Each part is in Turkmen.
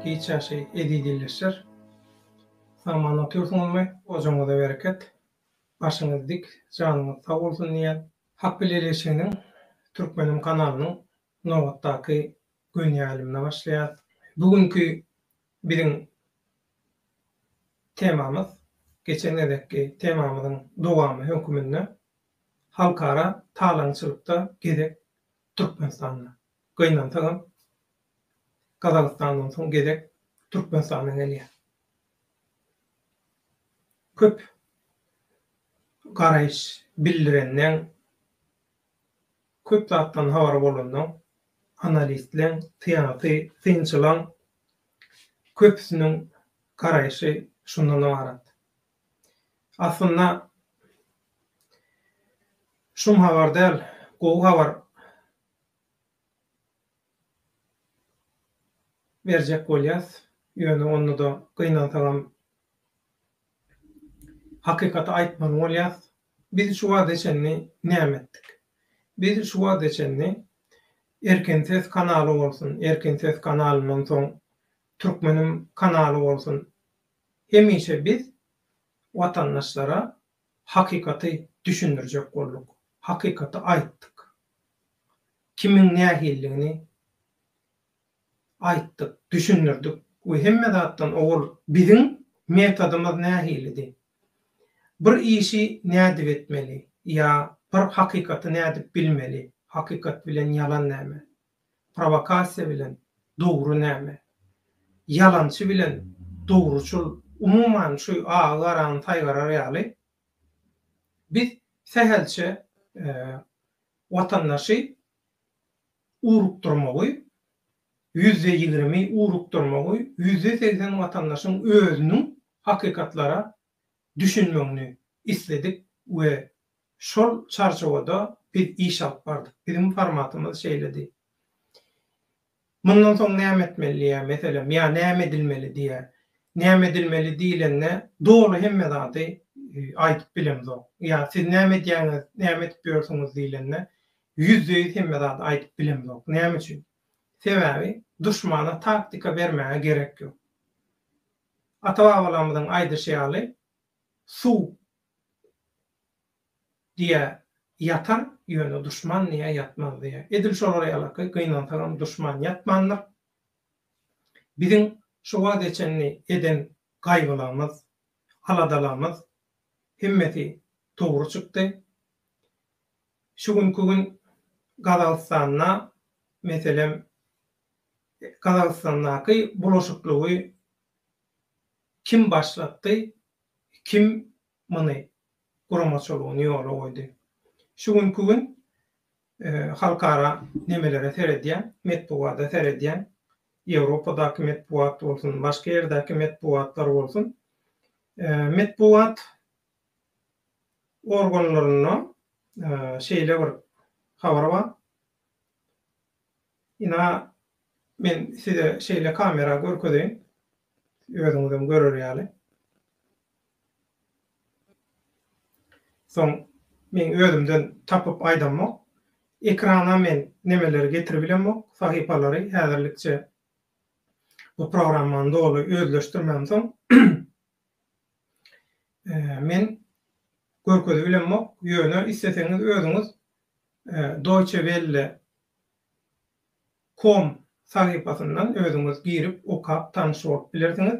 hiç ýaşy eziz ýelleşer. Saman otyrsyňyzmy, ojaňyza bereket, başyňyz dik, janyňyz sag bolsun diýýän. Hak bilen Ýelleşeniň Türkmenim kanalynyň nobatdaky gönýälimine başlaýas. Bu günki Biziň temamyz, geçen gezekki temamyzyň dowamy höküminde halkara talaňçylykda gezek Türkmenistanda. Gynansagam Gazagystandan soň gezek Türkmenistana gelýär. Köp garaýyş bildirenleň, köp zatdan habary bolanlaň, analistleň, syýasy synçylaň Köpüsiniň garaýşy şundan ybarat. Aslynda şum habar däl, gowy habar berjek bolýas, ýöne onda-da gynansagam Hakykaty aýtmaly bolýas, biz şu wagta çenli näme etdik? Biz şu wagta çenli Erkin ses kanaly bolsun, Erkin ses kanalyndan soň Türkmenim kanaly bolsun, hemişe biz watandaşlara hakykaty düşündirjek bolduk, hakykaty aýtdyk. Kimiň nähilidigini aýtdyk, düşündirdik we hemme zatdan owal biziň metodymyz nähilidi? Bir işi nädip etmeli ýa bir hakykaty nädip bilmeli, hakykat bilen ýalan näme, prowokasiýa bilen dogry näme, ýalançy bilen dogruçyl, umuman şu agy garany saýgarar ýaly biz sähelçe watandaşy urukdyrmagy, ýüzde ýigrimi urukdyrmagy, ýüzde segsen watandaşyň özüniň hakykatlara düşünmegini isledik we şol çarçuwada biz iş alyp bardyk. Biziň formatymyz şeýledi. Mundan soň näme etmeli diýýär, meselem, ýa näme edilmeli diýýär. Näme edilmeli diýlende, doly hemme zady aýdyp bilemzok. Ýa siz näme edýäňiz, näme edip ýörsüňiz diýlende, ýüzde ýüz hemme zady aýdyp bilemzok. Näme üçin? Sebäbi duşmana taktika bermäge gerek ýok. Ata-babalarymyzyň aýdyşy ýaly, suw Diýä, ýatar, ýöne duşman niýe ýatmaz diýä. Edil şolar ýalaky, gynansagam duşman ýatmandyr. Biziň şu wagta çenli eden gaýgylarymyz, aladalarymyz hemmesi dogry çykdy. Şu günki gün Gazagystanda, meselem, Gazagystandaky bulaşyklygy kim başlatdy, kim muny guramaçylygyny ýola goýdy. Şu günki gün halkara nemelere seredýän, metbugada seredýän, Ýewropadaky metbugat bolsun, başga ýerdäki metbugatlar bolsun, metbugat organlarynda şeýle bir habar bar, ina, men size şeýle kamera görkezeýin, özüňizem görer ýaly. Soň meň özümden tapyp aýdamok. Ekrana men nemeleri getiribilemok, sahypalary häzirlikçe bu programmany doly özleşdirmämsoň men görkezibilemok, ýöne isleseňiz özüňiz Deutsche Welle. Com sahypasyndan özüňiz girip okap tanyş bolup bilersiňiz.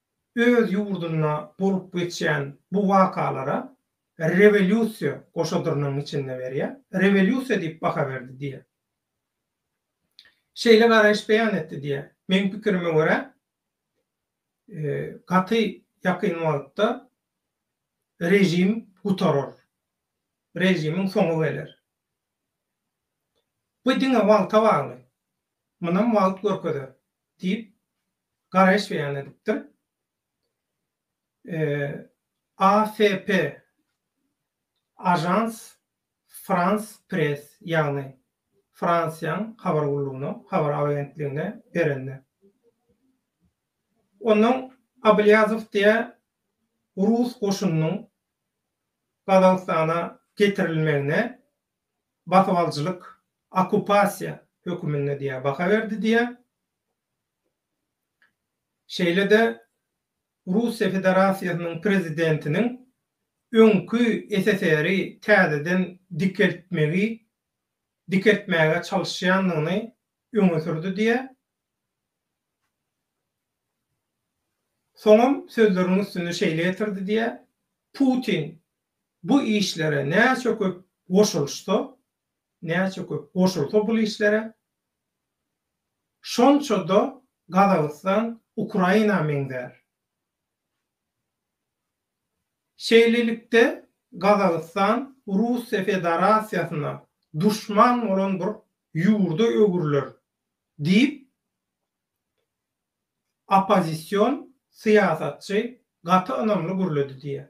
öz ýurdunda bolup geçýän bu wakalara rewolýusiýa goşadyrnyň içinde berýär, rewolýusiýa diýip baha berdi diýýär. Şeýle garaýyş beýan etdi diýýär. Meň pikirime görä, gaty ýakyn wagtda režim gutarar, režimiň soňy geler. Bu diňe wagta bagly. Munam wagt görkezer. diýip, garaýyş beýan edipdir. AFP, Agence France Presse, ýagny Fransiýaň habar gullugyna, habar agentligine berende. Onnoň Ablýazow diýýär, rus goşunynyň Gazagystana getirilmegine basybalyjylyk, okkupasiýa höküminde diýýär, baha berdi diýýär. Şeýle-de Russiýa Federasiýasynyň prezidentiniň öňki SSR-i täzeden dikeltmegi, dikeltmäge çalyşýandygyny öňe sürdi diýýär. Soňam sözleriniň üstüni şeýle ýetirdi diýýär, Putin bu işlere näçe köp goşulyşsa, näçe köp goşulsa bul işlere, şonça-da Gazagystan Ukraina meňzär. Şeýlelikde, Gazagystan Russiýa Fedarasiýasyna duşman bolan bir ýurda öwrüler diýip, oppozision syýasatçy gaty ynamly gürledi diýýär.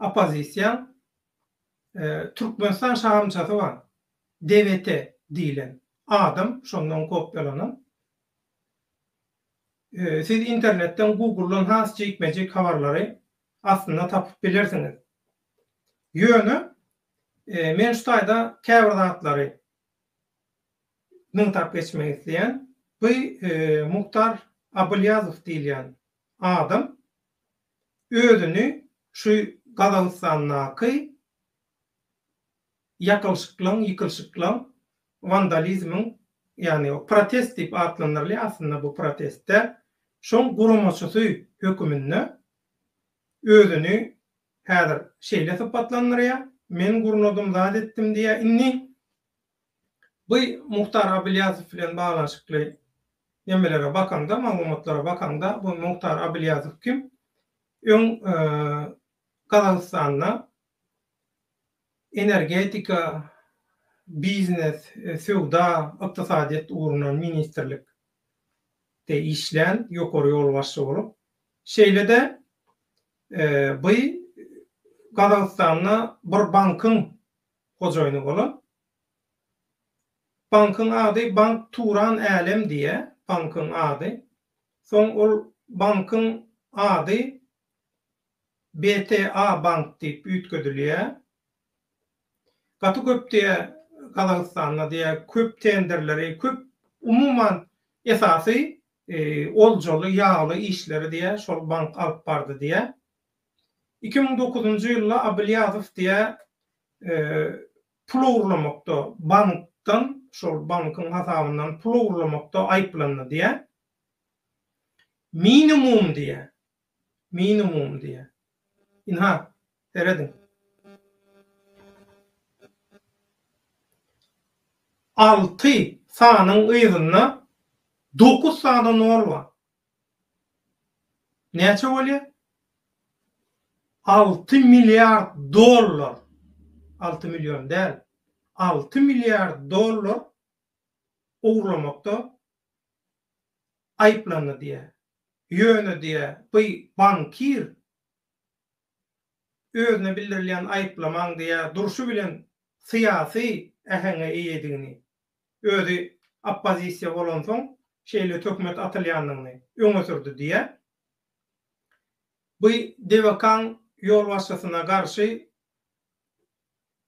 oppozisiýaň Türkmenistan şahamçasy bar, DVT diýlen adam şondan kopýalanan. Siz internetden, Google-dan has jikme-jik habarlary aslynda tapyp bilersiňiz. Ýöne men şu taýda käbir zatlary nygtap geçmek isleýän. Bu Muhtar Abylýazow diýilýän adam. özüni şu Gazagystandaky ýakylyşyklaň, ýykylyşyklaň, wandalizmiň, ýagny protest diýip atlandyrylýar, aslynda bu protest däl, şoň guramaçysy höküminde özüni häzir şeýle sypatlandyrýar, men gurnadym, zat etdim diýýär. Indi Bu Muhtar Abilýazow bilen baglanyşykly nemelere bakaňda, maglumatlara bakaňda, bu Muhtar Abilýazow kim? Öň Gazagystanda energetika, biznes, söwda, ykdysadyýet ugrundan ministrlikde işlän ýokary ýolbaşçy bolup, şeýle-de bu Gazagystanda bir bankyň hojaýyny bolan bankyň ady Bank Turan Älem diýýär, bankyň ady. Soň ol bankyň ady BTA Bank diýip üýtgedilýär. Gaty köp diýýär Gazagystanda diýýär köp tenderleri, köp umuman esasy oljaly, ýagly işleri diýýär şol bank alyp bardy diýýär. Iki müň dokuzynjy ýylda Abylýazow diýä pul ogurlamakda bankdan, şol bankyň hasabyndan pul ogurlamakda aýyplandy diýä. Minimum diýä. Minimum diýä. Ynha, serediň. Alty sanyň yzynda dokuz sany nol bar. Näçe bolýar? Alty milliard dollar, alty million däl, alty milliard dollar ogurlamakda aýyplandy diýýär. Ýöne diýýär, bu bankir özüne bildirilýän aýyplamaň diýýär durşy bilen syýasy äheňe eýedigini özi oppozisiýa bolansoň şeýle töhmet atylýandygyny öňe sürdi diýýär. Bu DVK-nyň ýolbaşçysyna garşy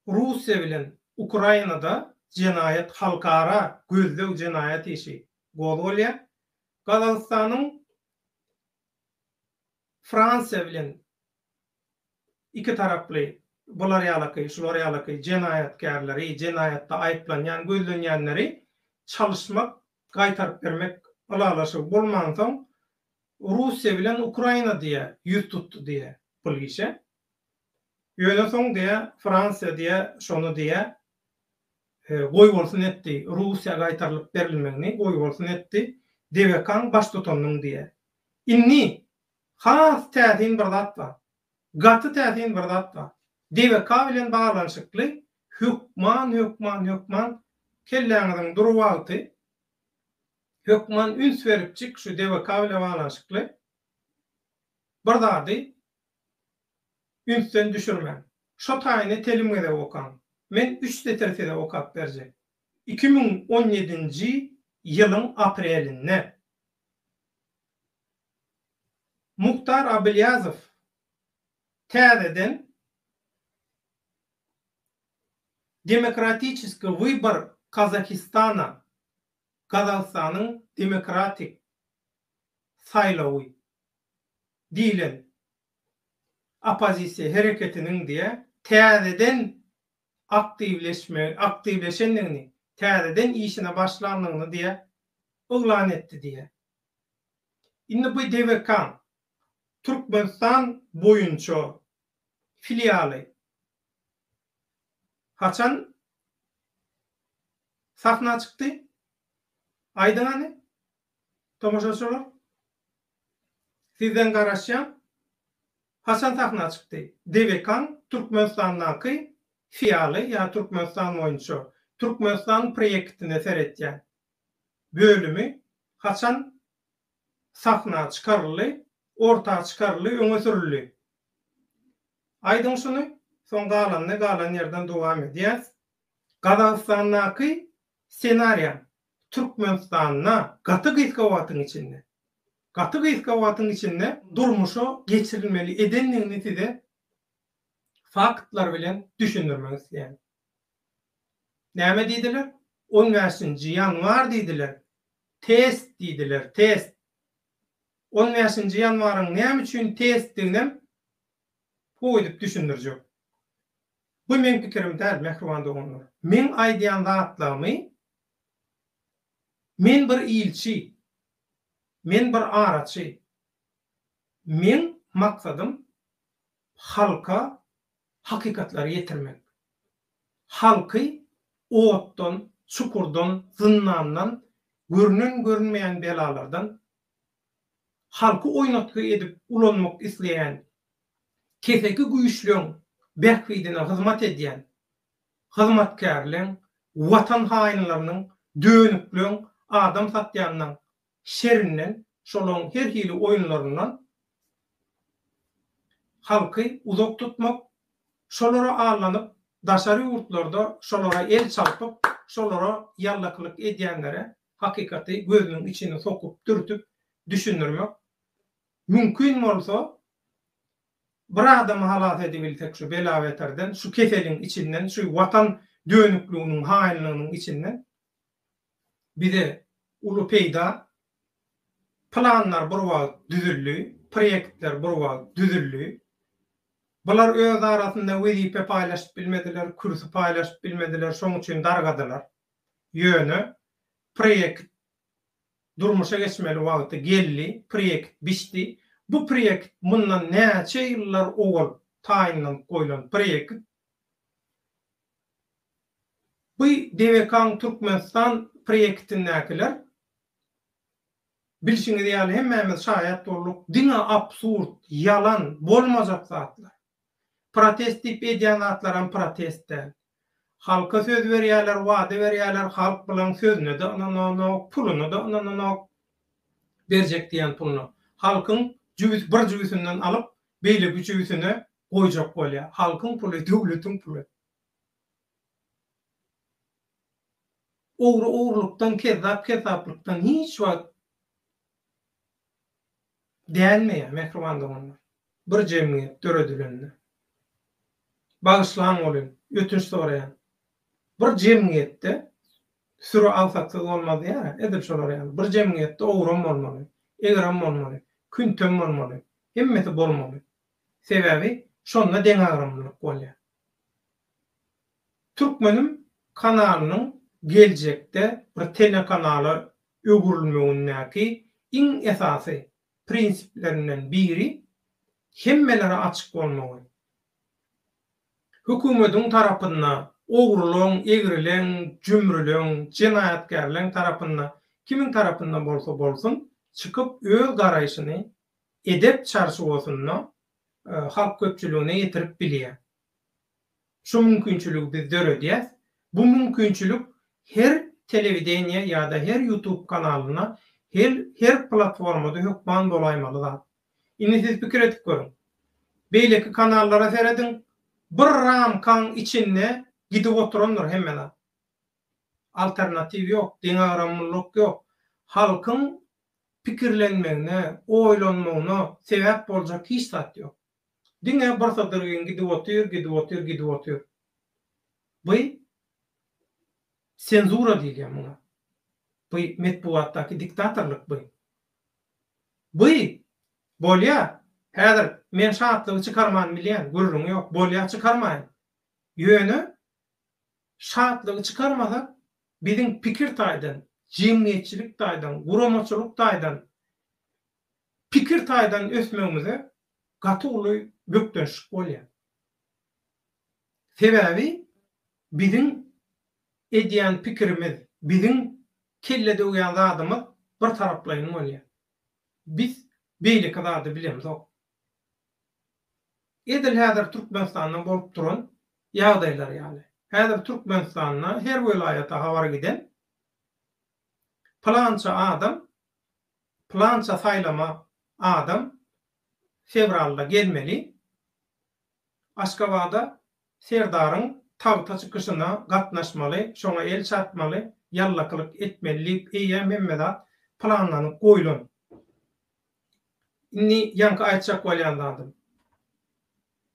Russiýa bilen Ukrainada jenaýat halkara gözleg jenaýat işi gozgalýar. Gazagystanyň Fransiýa bilen iki taraply bular ýalaky, şular ýalaky jenaýatkärleri, jenaýatda aýyplanýan, gözlenýänleri çalyşmak, gaýtaryp bermek ylalaşygy bolmansoň, Russiýa bilen Ukraina diýe ýüz tutdy diýe bul işe. Ýöne soň diýe Fransiýa diýe şony diýe goýbolsun etdi, Russiýa gaýtarylyp berilmegini goýbolsun etdi, DBK-nyň baştutanynyň diýe. Indi Has täsin bir zat bar. Gaty täsin bir zat bar. DBK bilen baglanyşykly hökman hökman hökman kelläňiziň dur wagty hökman üns beripjik şu DBK bile baglanyşykly bir zady ünsden düşürmäň. Şo taýyny telim gezek okaň. Men üç setir size okap berjek. Iki müň on ýedinji ýylyň aprelinde. Muhtar Abilýazow täzeden Demokratiçeskiý wybar Kazahistana, Gazagystanyň demokratik saýlawy, diýlen oppozisiýa hereketiniň diýe täzeden aktiwleşme aktiwleşendigini, täzeden işine başlandygyny diýe yglan etdi diýýär. Indi bu DBK-nyň Türkmenistan boýunça filialy haçan sahna çykdy? Aýdyň hany, tomaşaçylar? Sizden garaşýan, Haçan sahna çykdy? Dewekan Türkmenistandaky fialy ýa Türkmenistan boýunça Türkmenistan proýektine seretýän bölümi haçan sahna çykaryldy, orta çykaryldy, öňe sürüldi? Aýdyň şuny, soň galanyny galan ýerden dowam edýäs. Gazagystandaky ssenariýam Türkmenistanda gaty gysga wagtyň içinde. Gaty gysga wagtyň içinde durmuşa geçirilmeli edendigini size faktlar bilen düşündirmek isleýän. Näme diýdiler? On bäşinji ýanwar diýdiler. Test diýdiler, test. On bäşinji ýanwaryň näme üçin testdiginem ho edip düşündirjek. Bu meň pikirim däl, mähriban doganlar. Meň aýdýan zatlarymy men bir ilçi, Men bir araçy. Meň maksadym halka hakykatlary ýetirmek. Halky otdan, çukurdan, zyndandan, görünen-görünmeýän belalardan, halky oýnatgy edip ulanmak isleýän keseki güýçleň bähbidine hyzmat edýän hyzmatkärleň, watan haýynlarynyň, dönükleň, adam satýanlaň şerinden, şolaň her hili oýunlaryndan halky uzak tutmak, şolara allanyp, daşary ýurtlarda şolara el çalpyp, şolara ýallakylyk edýänlere hakykaty gözüniň içine sokup, dürtüp düşündirmek, mümkin bolsa, Bir adamy halas edibilsek şu bela-beterden, şu keseliň içinden, şu Watan dönükliginiň, haýynlygynyň içinden bize uly peýda. Planlar bir wagt düzüldi, proýektler bir wagt düzüldi. Bular öz arasynda wezipe paýlaşyp bilmediler, kürsi paýlaşyp bilmediler, şoň üçin dargadylar. Ýöne proýekt durmuşa geçmeli wagty geldi, proýekt bişdi. Bu proýekt mundan näçe ýyllar owal taýynlanyp goýlan proýekt. Bu DWK-nyň Türkmenistan proýektindäkiler, bilşiňiz ýaly, hemmämiz şaýat bolduk, diňe absurd, ýalan, bolmajak zatlar. Protest diýip edýän zatlaram protest däl. Halka söz berýäler, wada berýäler, halk bulaň sözüne-de ynananok, puluna-da ynananok. Berjek diýen puluny halkyň jübüs bir jübüsinden alyp, beýleki jübüsine goýjak bolýar. Halkyň puly, döwletiň puly. Ogry ogurlykdan, kezzap kezzaplykdan hiç wagt Dälmi, mähriban doganlar? Bir jemgyýet döredilende, bagyşlaň welin, ötünç soraýan, bir jemgyýetde süri agsaksyz bolmaz diýýär-ä, edil şolar ýaly, bir jemgyýetde ogrum bolmaly, egrim bolmaly, küntim bolmaly, hemmesi bolmaly. Sebäbi şonda deňagramlylyk bolýar. Türkmenim kanalynyň geljekde bir telekanala öwrülmegindäki iň esasy prinsiplerinden biri hemmelere açyk bolmagy. Hökümediň tarapynda ogrulaň, egrileň, jümrüleň, jenaýatkärleň tarapynda, kimiň tarapynda bolsa bolsun, çykyp öz garaýşyny edep çarçuwasynda halk köpçüligine ýetirip bilýär. Şu mümkinçiligi biz döredýäs. Bu mümkinçilik her telewideniýe ýa-da her ýutub kanalynda, her her platformada hökman bolaýmaly zat. Indi siz pikir edip görüň. Beýleki kanallara serediň, bir ramkaň içinde gidip oturandyr hemme zat. Alternatiw ýok, deňagramlylyk ýok. Halkyň pikirlenmegine, oýlanmagyna sebäp boljak hiç zat ýok. Diňe bir sydyrgyn gidip otyr, gidip otyr, gidip otyr. By senzura diýilýär muňa. By metbugatdaky diktatorlyk by. By bolýa, häzir men şatlygy çykarmany bilýän, gürrüň ýok, bolýa çykarmaýyn. Ýöne şatlygy çykarmasak, biziň pikir taýdan, jemgyýetçilik taýdan, guramaçylyk taýdan pikir taýdan ösmegimize gaty uly bökdençlik bolýar. Sebäbi biziň edýän pikirimiz, biziň kelle döwýän zadymyz bir taraplaýyn bolýar. Biz beýleki zady bilemzok. Edil häzir Türkmenistanda bolup duran ýagdaýlar ýaly. Häzir Türkmenistanda her welaýata habar giden, pylança adam plança saýlama adam fewralda gelmeli Aşgabada Serdaryň tagta çykyşyna gatnaşmaly, şoňa el çarpmaly, ýallakylyk etmeli diýip eýýäm hemme zat planlanyp goýlan. Indi ýaňky aýtjak bolýan zadym.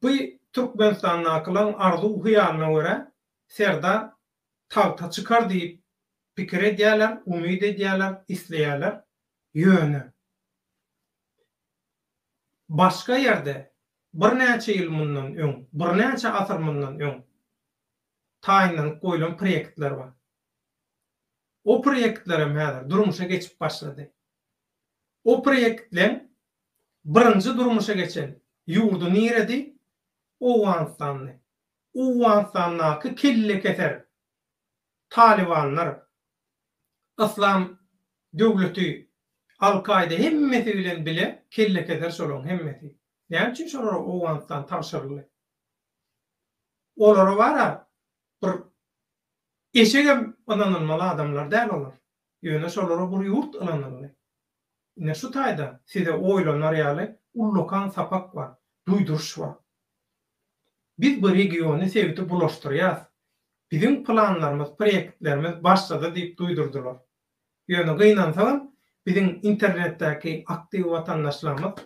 Bu Türkmenistandakylaň arzuw-hyýalyna görä Serdar tagta çykar diýip pikir edýärler, umyt edýärler, isleýärler. Ýöne başga ýerde birnäçe ýyl mundan öň, birnäçe asyr mundan öň taýynlanyp goýlan proýektler bar. O proýektlerem häzir durmuşa geçip başlady. O proýektleň birinji durmuşa geçen ýurdy niredi? Owganystandy. Owganystandaky kellekeser talybanlar, Yslam döwleti, Al-Kaýda hemmesi bilen bile kellekeser şolaryň hemmesi. Näme üçin şolara Owganystan tabşyryldy? Olara bar-a bir eşegem ynanylmaly adamlar däl olar. Ýöne şolara bir ýurt ynanyldy. Ine şu taýda size oýlanar ýaly ullakan sapak bar, duýduryş bar. Biz bu regiony, sebiti bulaşdyrýas. Biziň planlarymyz, proýektlerimiz başda-da diýip duýdurdylar. Ýöne gynansagam, biziň internetdäki aktiw watandaşlarymyz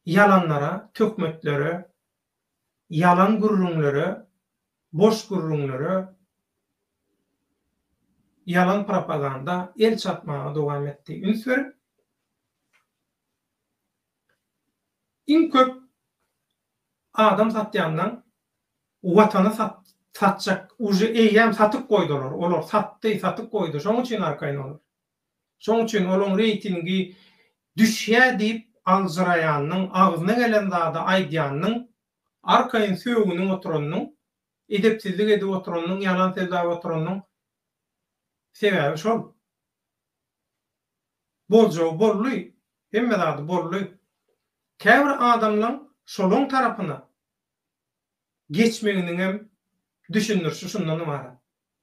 ýalanlara, töhmetlere ýalan gürrüňlere, boş gürrüňlere, ýalan propaganda el çarpmaga dowam etdi. Üns berip, iň köp adam satýandan Watany satjak, uje eýýäm satyp goýdular, olar satdy, satyp goýdy, şonuň üçin arkaýyn olar. Şonuň üçin olaň reýtingi düşýär diýip aljyraýanyň, agzyna gelen zady aýdýanyň, arkaýyn sögünip oturanyň, edepsizlik edip oturanyň, ýalan sözläp oturanyň sebäbi şol. Boljagy boldy, hemme zady boldy. Käbir adamlaň şolaň tarapyna geçmeginiňem düşündirişi şundan ybarat.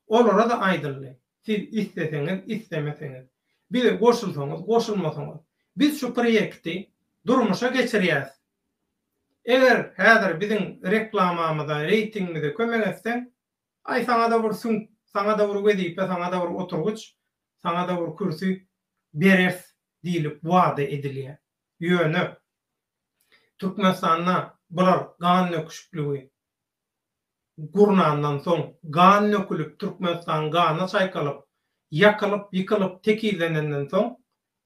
Olara-da aýdyldy, Siz isleseňiz, islemeseňiz, bize goşulsaňyz, goşulmasaňyz, biz şu proýekti durmuşa geçirýäs. Eger häzir biziň reklamamyza, reýtingimize kömek etseň, aý, saňa-da bir süňk, saňa-da bir wezipe, saňa-da bir oturgyç, saňa-da bir kürsi bereris diýlip wada edilýär. Ýöne Türkmenistanda bular gan döküşikligi. gurnandan soň, gan dökülip, Türkmenistan gana çaýkalyp, ýakylyp, ýykylyp, tekizlenenden soň,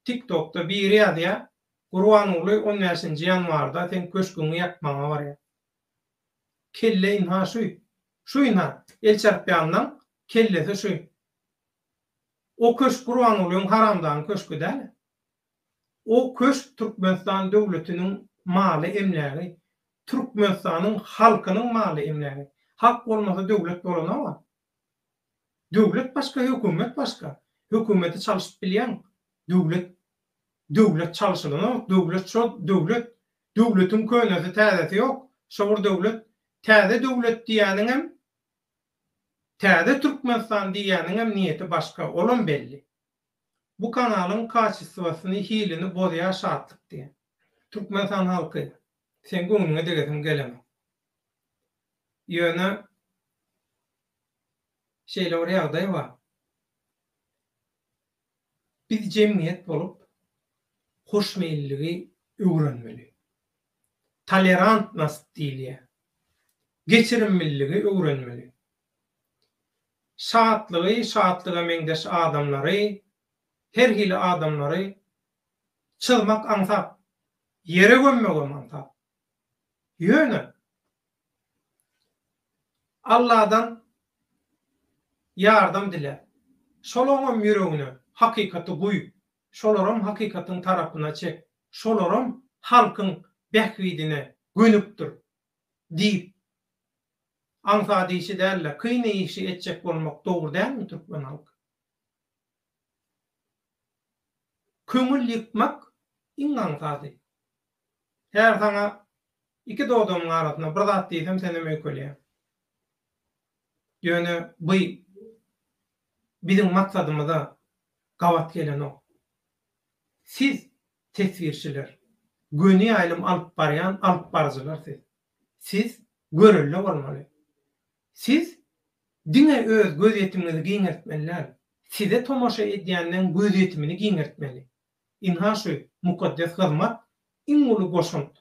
TikTokda biri ýazýar, Gurbanguly on bäşinji ýanwarda seň köşgüňi ýakmaga barýar. Kelle ynha şu. Şu ynha, Elçarpýanlaň kellesi şu. O köşk Gurbangulyň haramzanyň köşki däl-ä. O köşk Türkmenistan döwletiniň maly-emlägi, Türkmenistanyň halkynyň maly-emlägi. Halk bolmasa döwlet bolanok-a. Döwlet başga, hökümet başga. Hökümeti çalyşyp bilýäň, döwlet, döwlet çalyşylanok, döwlet şo döwlet. Döwletiň könesi, täzesi ýok, şo bir döwlet. Täze döwlet diýýäniňem, täze Türkmenistan diýýäniňem niýeti başga, olam belli. Bu kanalyň kaçistwasyny hilini bozýar şatlyk diýen Türkmenistan halky seň göwnüňe degesim gelenok. Ýöne şeýle bir ýagdaý bar. Biz jemgyýet bolup hoşmeýilligi öwrenmeli. Tolerantnost diýilýär. Geçirimliligi öwrenmeli. Şatlygy, şatlyga meňzeş adamlary, her hili adamlary çyzmak aňsat, ýere gömmegem aňsat. Ýöne Alladan ýardam dile. Şolaňam ýüregine hakykaty guý, şolaram hakykatyň tarapyna çek, şolaram halkyň bähbidine gönükdir diýip, aňsat işi däl-de, kyn işi etjek bolmak dogry dälmi, türkmen halky? Köňül ýykmak iň aňsady. Her saňa iki dodamyň arasyna bir zat diýsem senem öýkelýäň. Ýöne by biziň maksadymyza gabat gelenok. Siz Teswirçiler, göni ýaýlym alyp barýan alyp baryjylar siz. Siz görelde bolmaly. Siz diňe öz gözýetimiňizi giňeltmeli däl, size tomaşa edýänleň gözýetimini giňeltmeli. Ynha şu mukaddes hyzmat iň uly goşant,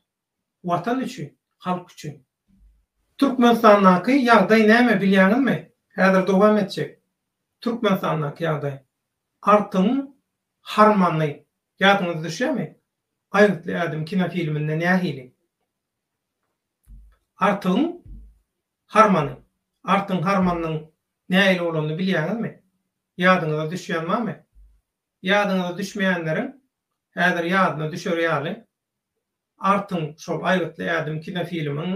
Watan üçin, halk üçin. Türkmenistandaky ýagdaý näme bilýäňizmi? Häzir dowam etjek. Türkmenistandaky ýagdaý. Artygyň harmany. Ýadyňyza düşýärmi? Aýgytly ädim kinofilminde nähili? Artygyň harmany. Artygyň harmanynyň nähili bolanyny bilýäňizmi? Ýadyňyza düşýän barmy? Ýadyňyza düşmeýänleriň häzir ýadyna düşer ýaly Artyň şol Aýgytly ädim kinofilmiň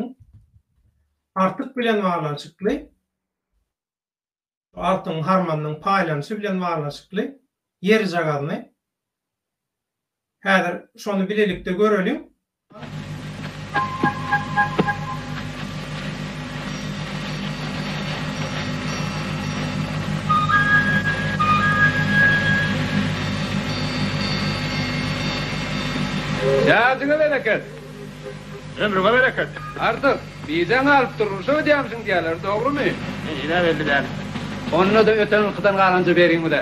Artyk bilen baglanyşykly, Artyň harmanynyň paýlanyşy bilen baglanyşykly ýerjagazyny häzir şony bilelikde göreliň. Ýadyňa bereket! Ömrüňe bereket! Artyk, bideň alyp durmuşa gidýämişiň diýýärler, dogrymy? Ine, belli däl. Onda-da öten ylkydan galanja beriň bize.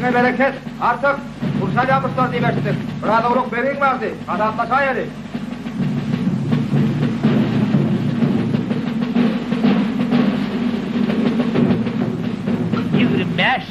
Mäşiňe bereket, Artyk! Gurşalýan guşlar diýip eşitdik. Biraz owlak begiň bardy. Hasaplaşaýaly. Ýigrimi bäş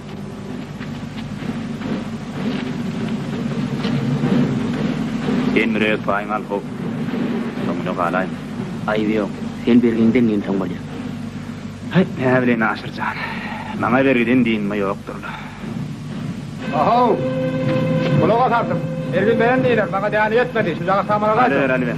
Sen birek paýyňy al hop. Soňuna galaýyn. Aýby ýok. Sen bergiňden nemsoň bolýa. Hyt näbile Naşir jan. Maňa bergiden dynma ýokdur-la. Ahow! Gulak as artyk. Bergin beren diýler, maňa däli ýetmedi. Şujagaz samana gaýdyň. Alyber, alyber.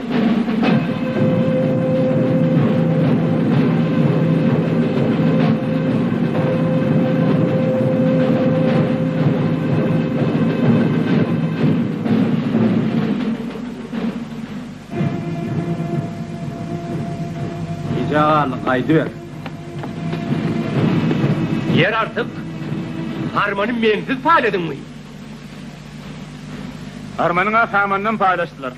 Jagal gaýdyber. Ýer artyk. Harmany mensiz paýladyňmy? Harmanyňa samandan paýlaşdylar.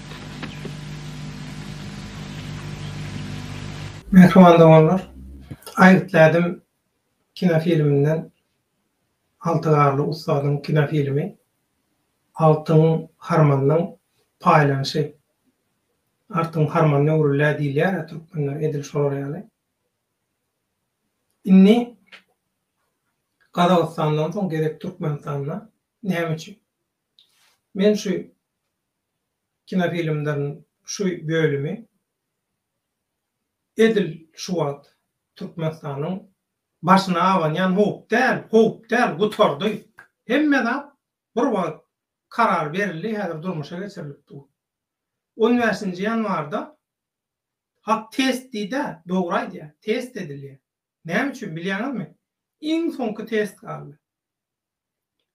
Mähriban doganlar, Aýgytly ädim kinofilminden Alty Garly ussadyň kinofilmi Agtyň harmanynyň paýlanyşy. Agtyň harmanyny öwrülýär diýilýär-ä türkmenler edil şolar ýaly. Indi Gazagystandan soň gezek Türkmenistanda. Näme üçin? Men şu kinofilmleriň şu bölümi edil şu wagt Türkmenistanyň başyna abanýan howp däl, howp däl, gutardy. Hemme zat bir wagt karar berildi, häzir durmuşa geçirilip dur. On bäşinji ýanwarda Hak test diýdi-ä, dogry aýdýar, test edilýär. Näme üçin bilýäňizmi? Iň soňky test galdy.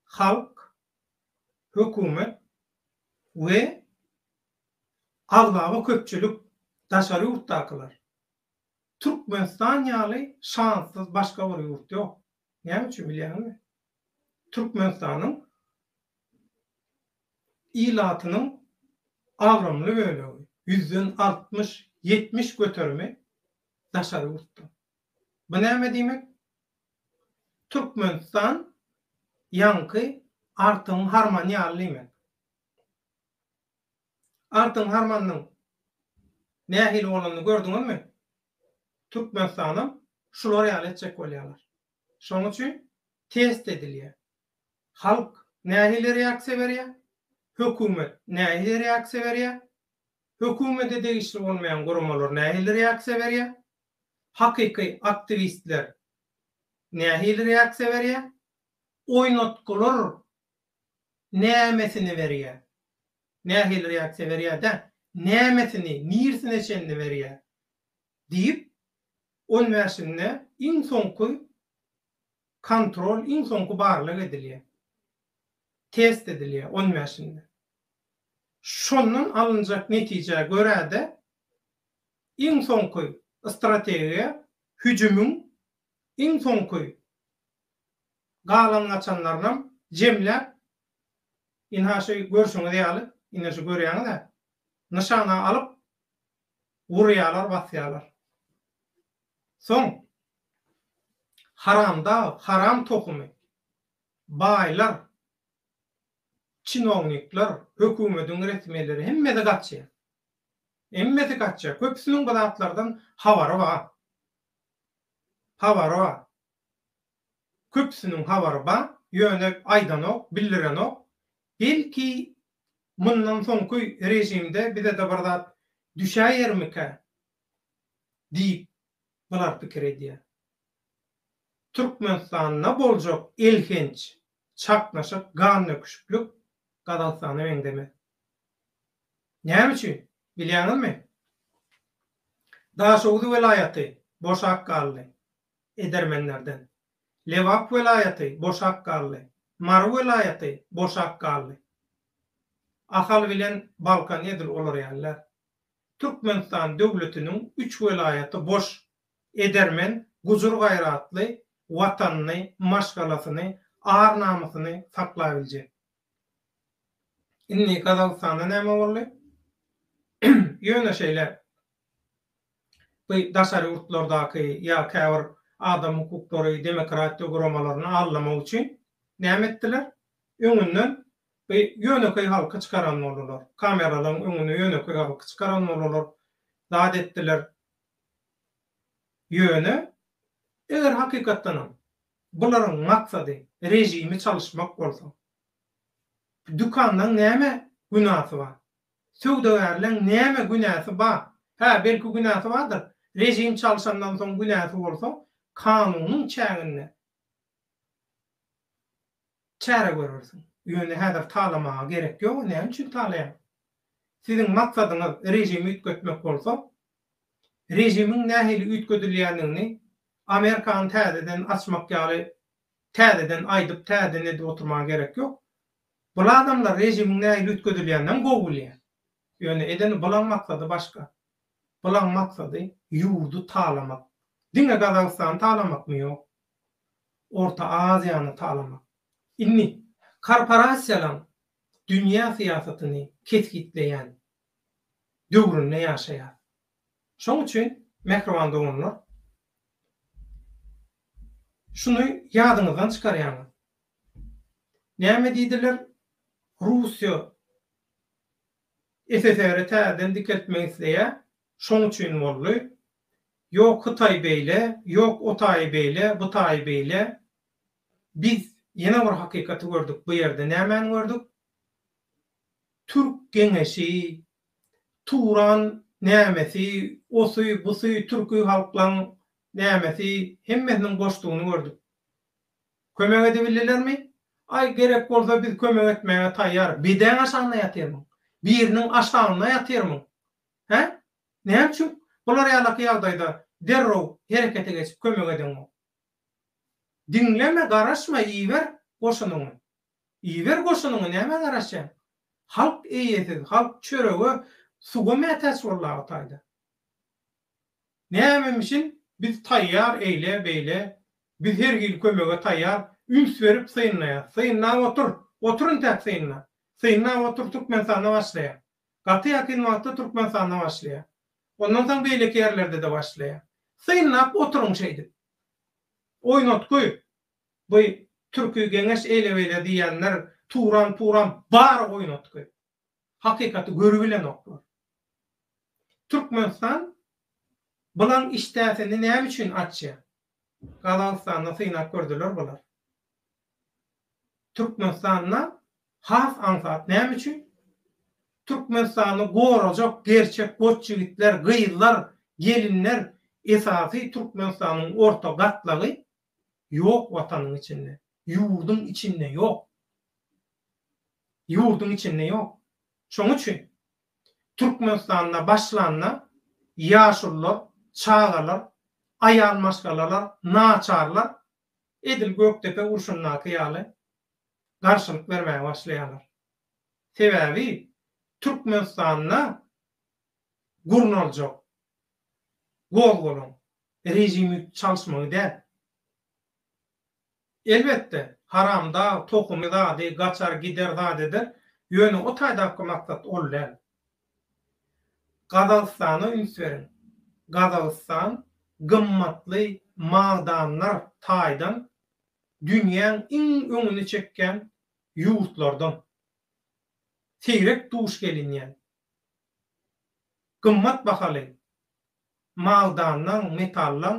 Halk hökümet we aglaba köpçülik, daşary ýurtdakylar, Türkmenistan ýaly şanssyz başga bir ýurt ýok. Näme üçin bilýäňizmi? Türkmenistanyň ilatynyň agramly bölegi, ýüzden altmyş, ýetmiş göterimi daşary ýurtdan. Bu näme diýmek? Türkmenistan ýaňky artygyň harmany ýaly diýmek. Artygyň harmanynyň nähili bolanyny gördüňizmi? Türkmenistanam şular ýaly etjek bolýarlar. Şonuň üçin test edilýär. Halk nähili reaksiýa berýär? Hökümet nähili reaksiýa berýär? Hökümete degişli bolmaýan guramalar nähili reaksiýa berýär? hakyky aktiwistler nähili reaksiýa berýär? Oýnatgylar nämesini berýär? Nähili reaksiýa berýär-dä, nämesini, nirsine çenli berýär? diýip, on bäşinde iň soňky kontrol, iň soňky barlag edilýär. Test edilýär on bäşinde. Şondan alynjak netijä görä-de, iň soňky strategiýa hüjümiň iň soňky galan-gaçanlarynam jemläp, ynha şu görşüňiz ýaly, ine şu görýäňiz-ä, nyşana alyp, urýarlar, basýarlar. Soň haramdag, haram tohumy baýlar, çinownikler, hökümetiň resmileri hemmesi gaçýar. Hemmesi gaçja, köpüsiniň bu zatlardan habary bar. Habary bar. Köpüsiniň habary bar, ýöne aýdanok, bildirenok. Belki, mundan soňky režimde bize-de bir zat düşäýermikä diýip, bular pikir edýär. Türkmenistanda boljak elhenç çaknyşyk, gandöküşiklik Gazagystana meňzemez. Näme üçin, bilýäňizmi? Daşoguz welaýaty boşap galdy edermenlerden. Lebap welaýaty boşap galdy. Mary welaýaty boşap galdy. Ahal bilen Balkan edil olar ýalylar. Türkmenistan döwletiniň üç welaýaty boş Edermen, gujur-gaýratly, Watanyny, maşgalasyny, ar-namysyny saklabiljek. Indi Gazagystanda näme boldy? Ýöne şeýle, bu daşary ýurtlardaky ýa käbir adam hukuklary, demokratiýa guramalaryny aldamak üçin näme etdiler? Öňünden bu ýönekeý halky çykaran boldular. Kameralaryň öňüne ýönekeý halky çykaran boldular. Zat etdiler. Ýöne, eger hakykatdanam bularyň maksady režimi çalyşmak bolsa, dükanlaň näme günasy bar? Söwdagärleň näme günäsi bar? Hä, belki günäsi bardyr, režim çalşandan soň günäsi bolsa, kanunyň çäginde Çäre görersiň. Ýöne häzir talamaga gerek ýok, näme üçin talaýaň? Siziň maksadyňyz režimi üýtgetmek bolsa, režimiň nähili üýtgedilýändigini Amerikany täzeden açmak ýaly täzeden aýdyp, täzeden edip oturmaga gerek ýok. Bul adamlar režimiň nähili üýtgedilýändigini gowy bilýär. Ýöne edeni bulaň maksady başga. Bulaň maksady ýurdy talamak. Diňe Gazagystany talamakmy? Ýok. Orta Aziýany talamak. Indi korporasiýalaryň dünýä syýasatyny kesgitleýän döwründe ýaşaýarys. Şonuň üçin, mähriban doganlar, şuny ýadyňyzdan çykarýaňyz. Näme diýdiler, Russiýa SSR-i täzeden dikeltmek isleýär, Şoň üçin boldy. Ýok Hytaý beýle, ýok o taýy beýle, bu taýy beýle. Biz ýene bir hakykaty gördük, bu ýerde nämäni gördük? Türk geňeşi, Turan nämesi, osy, busy, türki halklaň nämesi, hemmesiniň boşdugyny gördük. Kömek edibildilermi? Aý, gerek bolsa biz kömek etmäge taýýar. Bedäň aşagynda ýatyrmyň? Biriniň aşagynda ýatyrmyň? Hä? Näme üçin bular ýalaky ýagdaýda derrew herekete geçip kömek edeňok? Diňleme, garaşma, iber goşunyňy. Iber goşunyňy, nämä garaşýaň? Halk eýesiz, halk çörege, suwa mätäç boldy aga taýda. Nämemişin biz taýýar eýle, beýle, biz her hili kömege taýýar, üns berip synlaýas. Synlap otur, otur intäk synla. Synlap otur Türkmenistanda başlaýar. Gaty ýakyn wagtda Türkmenistanda başlaýar. Ondan soň beýleki ýerlerde-de başlaýar. Synlap oturyň şeýdip. Oýnatgy, bu türki geňeş eýle-beýle diýýänler turan-puran bary oýnatgy. Hakykaty görübilenoklar. Türkmenistan bylaň işdäsini näme üçin açýar? Gazagystanda synap gördüler bular. Türkmenistanda has aňsat näme üçin? Türkmenistany gorajak gerçek goç ýigitler, gyzlar, gelinler esasy Türkmenistanyň orta gatlagy ýok watanyň içinde, ýurduň içinde ýok. Ýurduň içinde ýok. Şoň üçin Türkmenistanda başlanda ýaşulular, çagalar, aýal maşgalalar, naçarlar edil Gökdepe urşundaky ýaly garşylyk bermäge başlaýarlar. Sebäbi Türkmenistanda gurnaljak gozgalaň režimi çalyşmagy däl. Elbetde, haramdag tohumy zady gaçar gider zat eder, ýöne o taýdapky maksat ol däl. Gazagystana üns beriň. Gazagystan gymmatly magdanlar taýdan dünýäň iň öňüni çekýän ýurtlardan. Seýrek duş gelinýän, gymmat bahaly magdanlaň, metallaň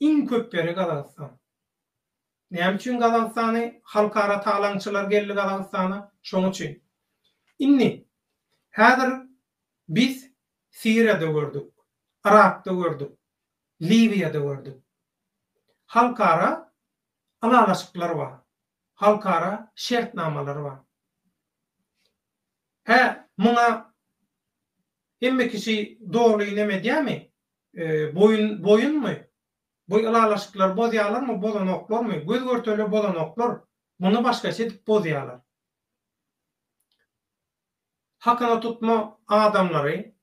iň köp ýeri Gazagystan. Näme üçin Gazagystany halkara talaňçylar geldi Gazagystana şoň üçin. Indi häzir biz Siriýada gördük, Yrakda gördük, Liwiýada gördük. Halkara ylalaşyklar bar. Halkara şertnamalar bar. Hä muňa Hemme kişi doly neme edýärmi? Boýun boýunmy? Bu ylalaşyklary bozýalarmy, bozanoklarmy? Göz görtele bozanoklar. Muny başgaça edip bozýalar. Hakyna tutma adamlary,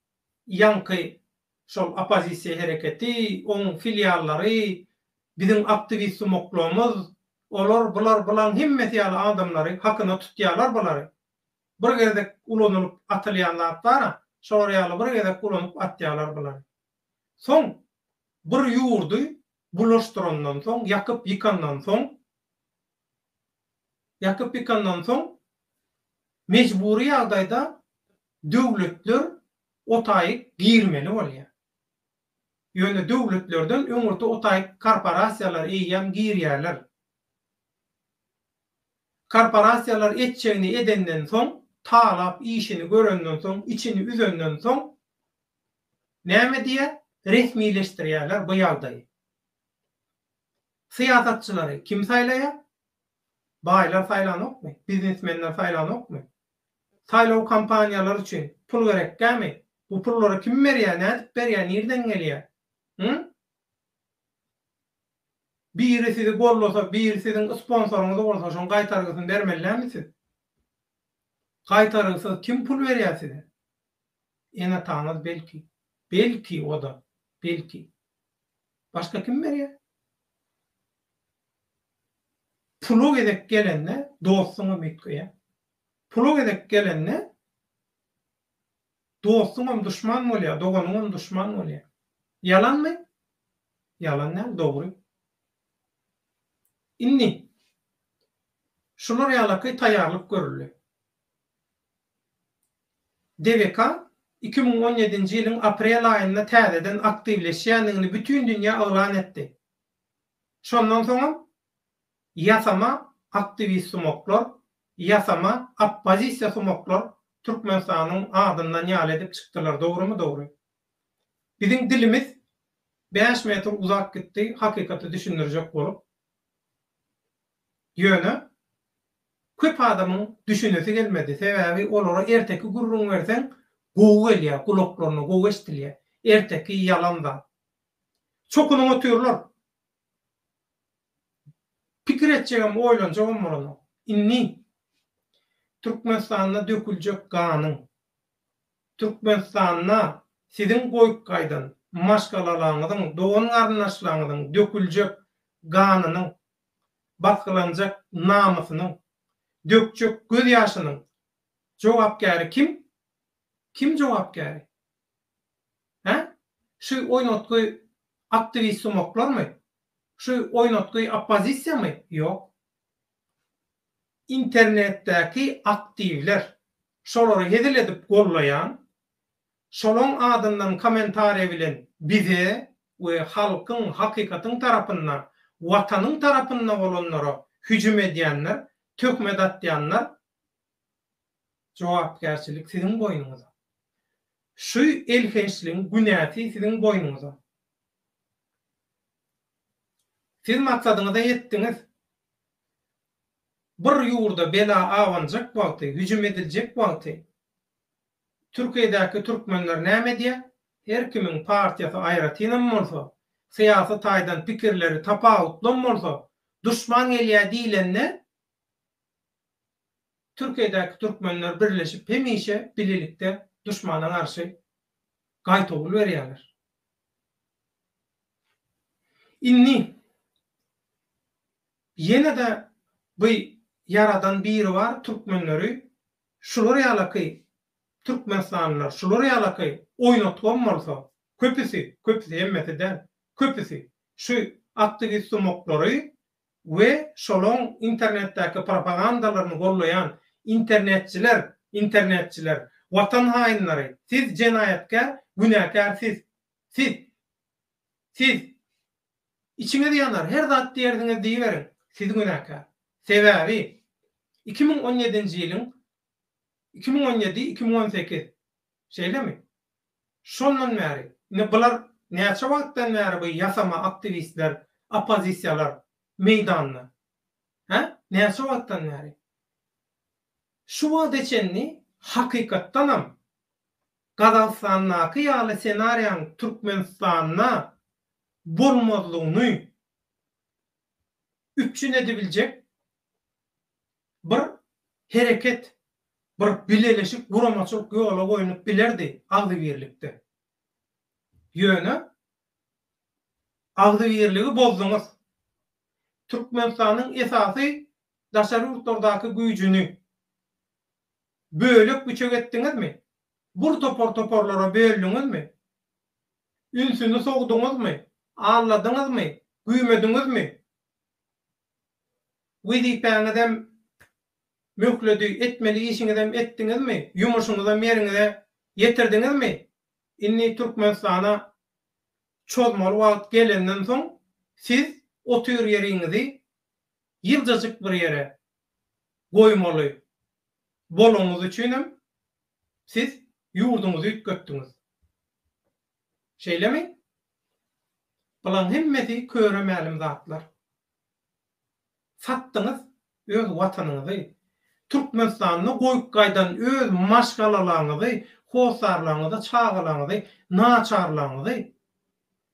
ýaňky şol oppozisiýa hereketi, oň filiallary, biziň aktiwist-sumoklomyz, olar, bular, bulaň hemmesi ýaly adamlary hakyna tutýalar bulary. Bir gezek ulanylyp atylýan zatlara şolar ýaly bir gezek ulanyp atýarlar bulary. Soň bir ýurdy bulaşdyrandan soň, ýakyp ýykandan soň, ýakyp ýykandan soň mejbury ýagdaýda döwletler otaýyk girmeli bolýar. Ýöne döwletlerden öňürti otaýyk korporasiýalar eýýäm girýärler. Korporasiýalar etjegini edenden soň, talap işini görenden soň, içini üzenden soň näme edýär? Resmileşdirýärler bu ýagdaýy. Syýasatçylary kim saýlaýar? Baýlar saýlanokmy? Biznesmenler saýlanokmy? Saýlaw kampaniýalary üçin pul gerekkämi? Bu pullary kim berýär, nädip berýär, nirden gelýär? Hum? Biri sizi gollasa, biri siziň sponsoryňyz bolsa şoň gaýtargysyny bermelidämi siz? Gaýtarygsyz kim pul berýär size? Enataňyz belki. Belki oda, belki. Başga kim berýär? Pula gezek gelende dostuňam üýtgeýär. Pula gezek gelende Dostuňam duşman bolýar, doganyňam duşman bolýar. Ýalanmy? Ýalan däl, dogry. Indi, şular ýalaky taýýarlyk görüldi. DVK iki müň on ýedinji ýylyň aprel aýynda täzeden aktiwleşýändigini bütin dünýä yglan etdi. Şondan soňam Ýasama aktiwist sumaklar, ýasama oppozisiýa sumaklar Türkmenistanyň adyndan ýaly edip çykdylar dogrymy dogry. Biziň dilimiz bäş metr uzap gitdi hakykaty düşündirjek bolup. Ýöne köp adamyň düşünesi gelmedi sebäbi olara erteki gürrüň berseň gowy gelýär gulaklaryna gowy eşdilýär erteki ýalan zat. Çokunyň otyrlar. Pikir etjegem, oýlanjagam bolanok. Indi Türkmenistanda döküljek ganyň, Türkmenistanda siziň goýup gaýdan maşgalalaryňyzyň, dogan-garyndaşlaryňyzyň döküljek ganynyň, basgylanjak namysynyň, dökjek gözýaşynyň jogapkäri kim? Kim jogapkäri? Hä? Şu oýnatgy aktiwist-sumaklarmy? Şu oýnatgy oppozisiýamy? Ýok. Internetdäki aktiwler. Şolary hezil edip gollaýan, şolaň adyndan kommentariýa bilen bize we halkyň, hakykatyň tarapynda, Watanyň tarapynda bolanlara hüjüm edýänler, töhmet atýanlar Jogapkärçilik siziň boýnuňyza. Şu elhençligiň günäsi siziň boýnuňyza. Siz maksadyňyza ýetdiňiz. Bir ýurda bela abanjak wagty, hüjüm ediljek wagty Türkiýedäki türkmenler näme edýär? Her kimiň partiýasy aýratynam bolsa, syýasy taýdan pikirleri tapawutlam bolsa, duşman gelýär diýlende, Türkiýedäki türkmenler birleşip hemişe bilelikde duşmana garşy gaýtawul berýärler. Indi ýene-de bu ýaradan Biribar türkmenleri şular ýalaky türkmenistanlylar şular ýalaky oýnatgam bolsa köpüsi, köpüsi hemmesi däl, köpüsi şu aktiwist-sumoklary we şolaň internetdäki propagandalaryny gollaýan internetçiler, internetçiler, watan haýynlary, siz jenaýatkär, günäkär siz, siz, siz, içiňiz ýanar her zat diýersiňiz diýiberiň, siz günäkär. Sebäbi, iki müň on ýedinji ýylyň, iki müň on ýedi, iki müň on sekiz, şeýlemi? Şondan bäri, ine bular näçe wagtdan bäri bu ýasama aktiwistler, oppozisiýalar meýdanda? Hä? Näçe wagtdan bäri? Şu wagta çenli hakykatdanam Gazagystandaky ýaly ssenariýaň Türkmenistanda bolmazlygyny üpjün edibiljek bir hereket, bir bileleşik guramaçylyk ýola goýlup bilerdi agzybirlikde. Ýöne agzybirligi bozduňyz. Türkmenistanyň esasy daşary ýurtlardaky güýjüni bölek-büçek etdiňizmi? Bir topar-toparlara böldüňizmi? Ünsüni sowduňyzmy? Alladyňyzmy? Güýmediňizmi? Wezipäňizem möhledi, etmeli işiňizem etdiňizmi, ýumuşyňyzam ýeriňize ýetirdiňizmi? Indi Türkmenistana çozmaly wagt gelenden soň, siz otur ýeriňizi ýyljajyk bir ýere goýmaly bolanyňyz üçinem siz ýurduňyzy üýtgetdiňiz. Şeýlemi? Bulaň hemmesi köre mälim zatlar. Satdyňyz öz watanyňyzy. Türkmenistanda goýup gaýdan öz maşgalalaňyzy, hossarlaňyzy, çagalaňyzy, naçarlaňyzy,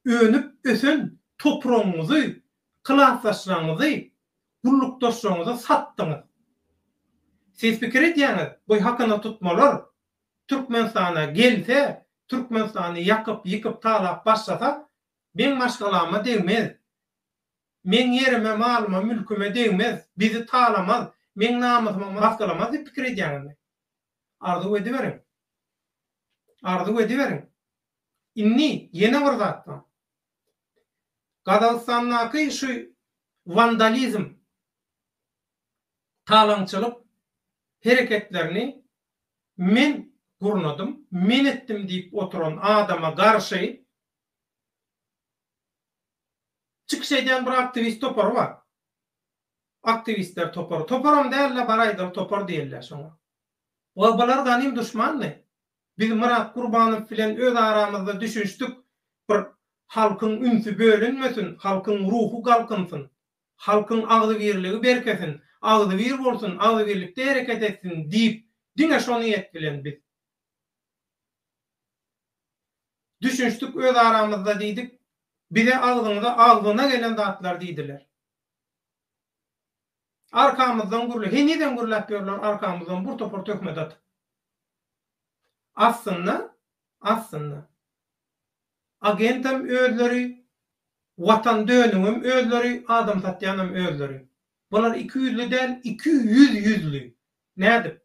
önüp ösen topragyňyzy, klasdaşlaňyzy, gullukdaşlaňyzy satdyňyz. Siz pikir edýäňiz, bu hakynatutmalar Türkmenistana gelse, Türkmenistany ýakyp ýykyp talap başlasa meň maşgalama degmez meň ýerime malyma mülkime degmez bizi talamaz meň namysyma masgalamaz diýip pikir edýäňizmi arzuw ediberiň arzuw ediberiň indi ýene bir zat bar gazagystandaky şu wandalizm talaňçylyk hereketlerini men gurnadym, men etdim diýip oturan adama garşy çykyş edýän bir aktiwist topary bar. Aktiwistler topary. Toparam däl-le, bar aýdaly topar diýeliýär şoňa. We bular ganym duşmandy. Biz Myrat Gurbanow bilen öz aramyzda düşünişdik, bir halkyň ünsi bölünmesin, halkyň ruhy galkynsyn, Halkyň agzybirligi berkesin, agzybir bolsun, agzybirlikde hereket etsin diýip, diňe şo niýet bilen biz düşünişdik özaramyzda diýdik, bize agzyňyza agzyna gelen zatlar diýdiler. Arkamyzdan gürle, henizem gürläp ýörler arkamyzdan bir topar töhmet atyp. Aslynda, aslynda. agentem özleri watan döneňem özleri adam satýanam özleri bular iki ýüzli däl iki ýüz ýüzli nädip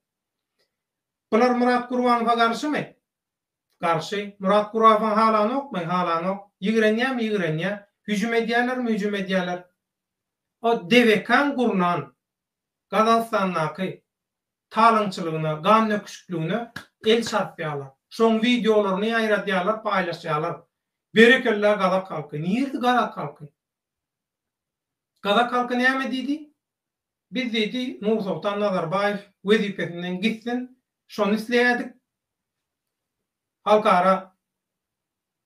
bular Murat Gurbanowa garşymy garşy Murat Gurafow halanokmy halanok ýigrenýämi ýigrenýä hüjüm edýälermi hüjüm edýäler o DVK-nyň gurnan Gazagystandaky talaňçylygyna, gannöküşikligine el çarpýarlar. Şoň wideolaryny ýaýradýarlar, paýlaşýarlar. Berekella gazak halky. Nirdi gazak halky? Gazak halky näme diýdi? Biz diýdi Nursoltan Nazarbaýew wezipesinden gitsin, şony isleýädik. Halkara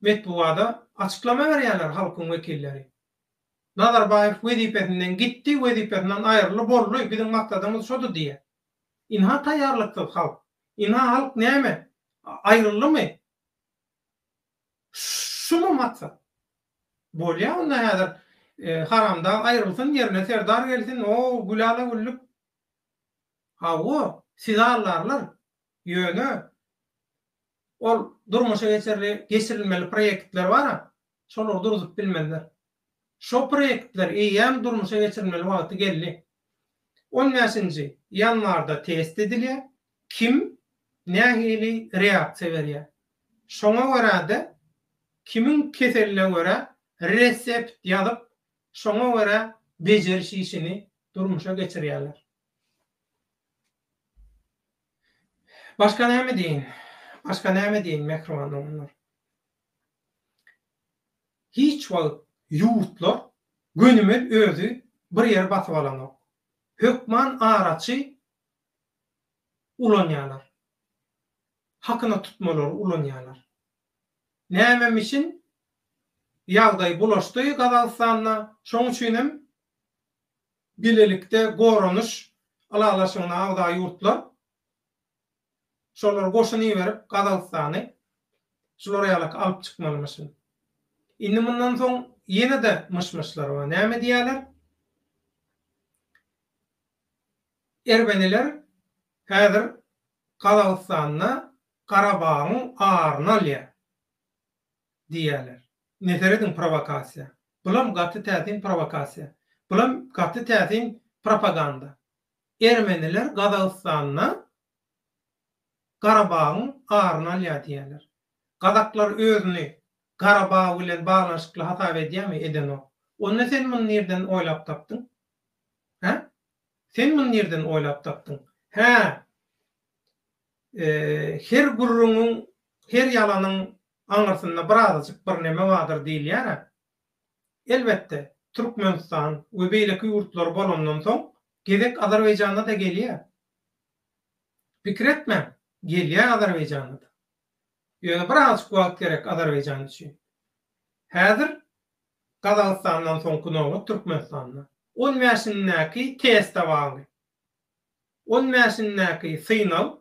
metbugada açyklama berýärler halkyň wekilleri. Nazarbaýew wezipesinden gitdi, wezipesinden aýryly boldy, biziň maksadymyz şoda diýýär. Ynha taýýarlyksyz halk. Ynha halk näme, aýryldymy? Şumy maksat? Bolýa onda häzir haramdag aýrylsyn, ýerine serdar gelsin, o, gülala-güllük. Hawa, sizi aldarlar. Ýöne ol durmuşa geçirilmeli proýektler bar-a, şolar durzup bilmezler. Şo proýektler eýýäm durmuşa geçirilmeli wagty geldi. On bäşinji ýanwarda test edilýär, kim nähili reaksiýa berýär. Şoňa görä-de, kimiň keseline görä resept ýazyp, şoňa görä bejeriş işini durmuşa geçirýärler. Başga näme diýin? Başga näme diýin, mähriban doganlar? Hiç wagt ýurtlar gönümel özi bir ýeri basyp alanok. Hökman araçy ulanýarlar. Hakyna tutmalary ulanýarlar. Nämem üçin ýagdaý bulaşdy Gazagystanda, şoň üçinem bilelikde goranyş ylalaşygyna agza ýurtlar, Şolar goşun iberip Gazagystany şular ýalaky alyp çykmalymyşyn. Indi mundan soň ýene-de myş-myşlar bar. Näme diýýärler? Ermeniler häzir Gazagystanda Garabagyň aryny alýar diýýärler. Ine serediň prowokasiýa. Bulam gaty täsin prowokasiýa. Bulam gaty täsin propaganda. Ermeniler Gazagystanda Garabagyň aryny alýar diýýärler. Gazaklar özüni Garabag bilen baglanyşykly hasap edýärmi? Edenok. Onda sen muny nirden oýlap tapdyň? Hä? Sen muny nirden oýlap tapdyň? Hä, her gürrüňiň, her ýalanyň aňyrsynda birazajyk birneme bardyr diýilýär-ä. Elbetde, Türkmenistan we beýleki ýurtlar bolandan soň, gezek Azerbaýjana-da gelýär. Pikir etmäň, gelýär Azerbaýjana-da. Ýöne bir azjyk wagt gerek Azerbaýjan üçin. Häzir Gazagystandan soňky nobat Türkmenistanda. On bäşindäki teste bagly. On bäşindäki synag